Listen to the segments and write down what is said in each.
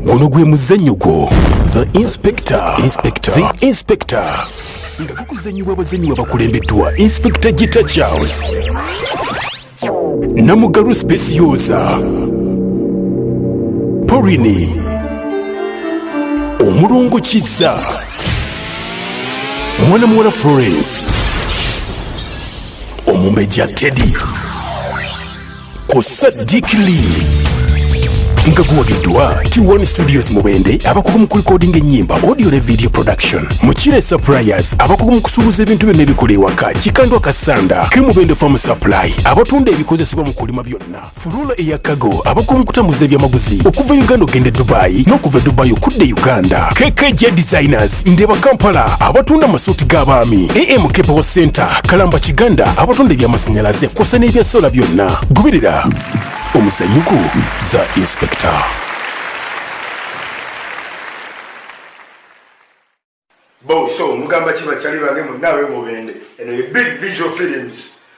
guno gwe muzannyo gwo the inspector inspector the inspector nga gukuzannyibwa abazannyi babakulembeddwa inspector gita charles namugalu specioza porini omulongo kizza mwana muwala florence omumbejja teddy ku Sadiq Lee nga guwagiddwa T1 Studios Mubende abakugu mu kulikodinga ennyimba audio ne video production Mukire Suppliers abakugu mu kusuubuza ebintu byonna ebikola ewaka Kikandwa Kasanda ke Mubende Farm Supply abatunda ebikozesebwa mu kulima byonna Fulula eya Kago abakugu mu kutambuza ebyamaguzi okuva Uganda okugenda e Dubai n'okuva e Dubai okudda e Uganda KKJ Designers Markets, Ndeba Kampala abatunda amasuuti g'abaami, AM Kepewo Center, Kalamba Kiganda abatunda eby'amasannyalaze kw'ossa n'ebya sola byonna. Goberera omusanyuku The Inspector. Bo, so mugamba ki bakyali bange mwenna ab'e Mubende. Eno ye Big Visual Films.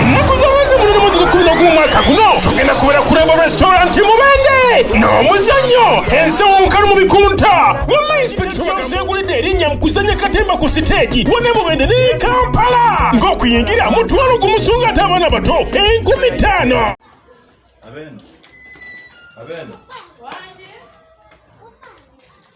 ennaku z'omwezi guno ne mwezi gw'ekkumi n'ogumu mwaka guno tugenda kubeera ku rembo restaurant mubende n'omuzannyo ensi omukalu mu bikunta wamma inspekita wazengulidde erinnya mu kuzannya katemba ku siteegi wone mubende ne kampala ng'okuyingira mutwalo gumusunga ate abaana bato enkumi ttaano Abeno. Abeno.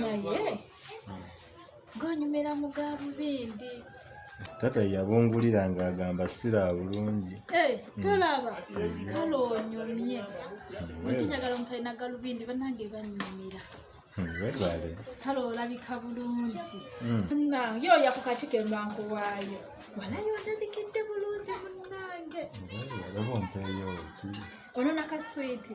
naye ng'onyumira mu ga lubindi taata yabungulira ng'agamba sira bulungi eh, tolaba hmm. kale onyumye wekinyagala hmm. omutali nagalubindi banange banyumira hmm, webale kale olabika bulungi munange oya ku kaki kembanku waayo walayo olabikidde bulungi munange olaba ompeeyo ki ono nakaswiti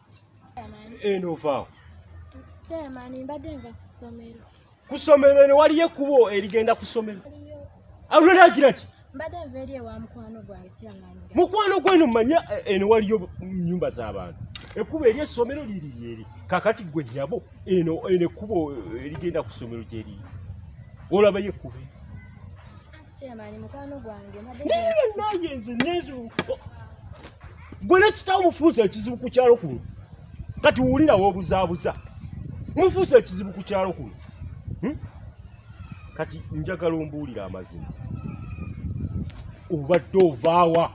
eno ovaawo chairman mbadde nva ku ssomero ku ssomero eno waliyo ekkubo erigenda ku ssomero alulagira ki mbadde nva eri ewa mukwano gwawe chairman mukwano gweno manya eh, eno waliyo nyumba z'abantu ekkubo eri essomero liri lyeri kakati gwe nyabo eno eno ekkubo eh, erigenda ku ssomero gyeriri olabayo ekkubo gwe nekitawo mufuusa ekizibu ku kyalo kuno kati wulira wobuzaabuza mufuusa ekizibu ku kyalo kuno hmm? kati njagala ombuulira amazima obadde ovaawa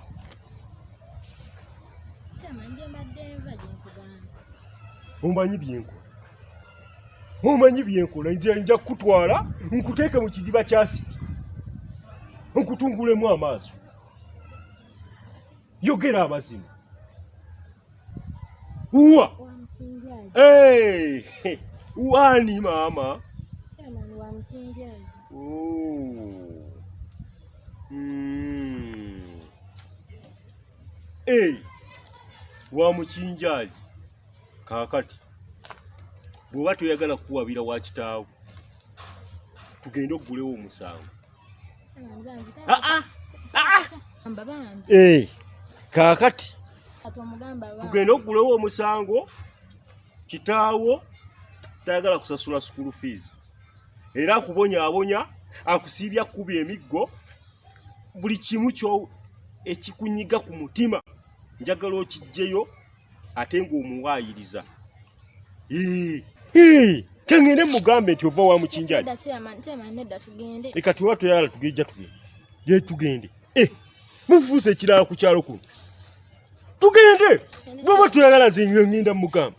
omanyi byenkola omanyi byenkola nze nja kukutwala nkuteeke mu kidiba kyasiti nkutungulemu amaaso yogera amazima uwa wani maama wa mukinjaji oh. hmm. kaakati bw'oba toyagala kukuwabira wa kitaawo tugende okugulewo omusango eh, kaakati tugende okugulewo omusango kitaawo tayagala kusasula sukulu fees era akubonyaabonya akusiibya kukuba emiggo buli kimu kyo ekikunyiga ku mutima njagala okijjeyo ate ng'omuwaayiriza kengende mugambe nti ova wa mukinjali leka tuba tuyala tugejja tugende ye tugende eh, mufuuse ekirala ku kyalo kuno tugende bwaba tuyagala nze ngenda mugamba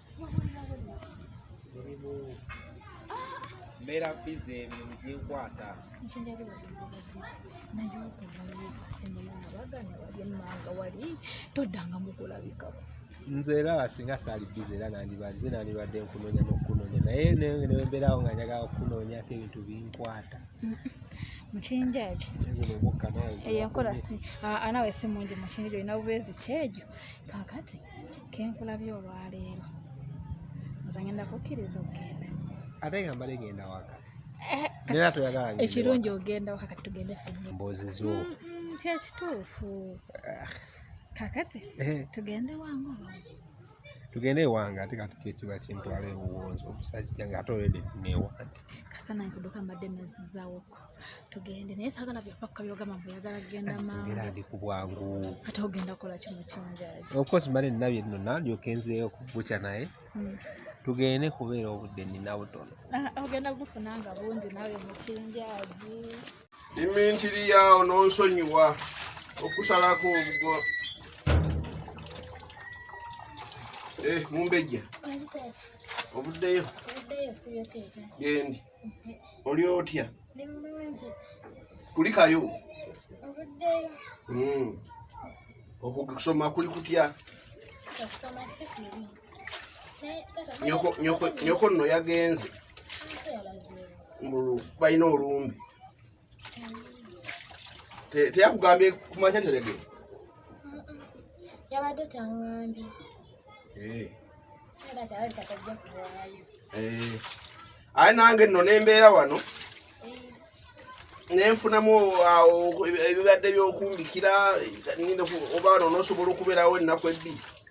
mbeera bize ebyo biginkwata toddanga mukulabikako nze era singa saali bize era nandibalize nandibadde nkunoonya n'okukunoonya naye nembeerawo nga njagala okukunoonyako ebintu binkwata mukinjaki eyo enkola nawe si mungi mukinja olina bubeezi kyejo kakati kenkulabye olwaleero nze ngenda kukkiriza okugenda ate nga mbale genda waka eh, era toyagala ekirungi ogenda waka kati tugende fenye mboozi zo mm, mm, nti ekituufu ah. kakati eh. tugende wange oba tugende ewange ate kati kyekiba kintwala ebuwonzi omusajja nga ate olwede newange kasana nkuduka mbadde nazizawoko tugende naye sagala byapakka byogamba mbu yagala kugenda maamaera ndi ku bwangu ate ogenda kola kimu kinjaji okosi male nabye nno nalyoka enzeeyo kubuca naye hmm. tugende kubeera obudde nina butono ah, ogenda gufuna nga bungi nawe mukinjaji imintiri yaawo nonsonyiwa okusalako obugo eh, mumbejja obuddeyo gendi oli otya kulikayo hmm. okusoma kuli kutya nyoko nno yagenze mbu balina olumbe teyakugambye kumakya nterege yabadde tangambye eh. eh. aye nange nno nembeera wano eh. nenfunamu ebibadde byokumbikira oba wano nosobola okubeerawo ennaku ebbiri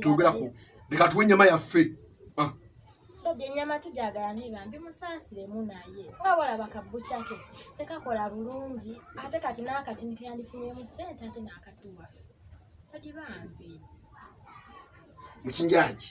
twogera ku leka tuwe enyama yaffe ah. dadi enyama tujagala naye bambi musaasiremu naye nga walaba kabbucake tekakola bulungi ate kati naakati nikeyandifunyemu sente ate naakatuwaffe dadi bambi mukinjaki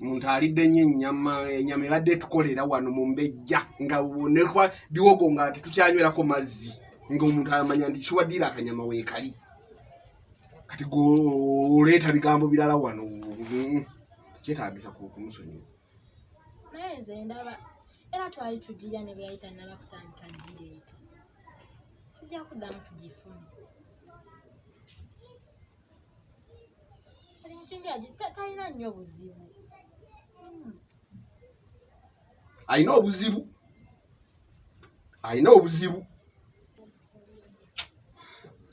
omuntu alidde nyo enyama enyama ebadde tukolera wano mumbejja nga nekwa biwogo nga tetukyanywerako mazzi nga omuntu amanya nti kiwaddiire akanyama weekali kati goleeta bigambo birala wano kyetagisa kumusonyiwa naye nze ndaba era twali tugirya ne bweyayita naba kutandika gireeta tujja kuddamu tugifune Kati mukingi agi- ta- talina nnyo buzibu Hmm. alina obuzibu alina obuzibu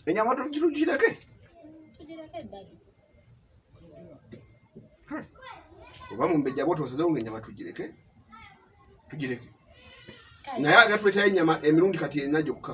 enyama tugireke Hmm, tugireko eddagi oba mumbejja bwo tosazewo nga enyama tugireke tugireke Kale, naye ate tuleetayo enyama emirundi kati erina gyokka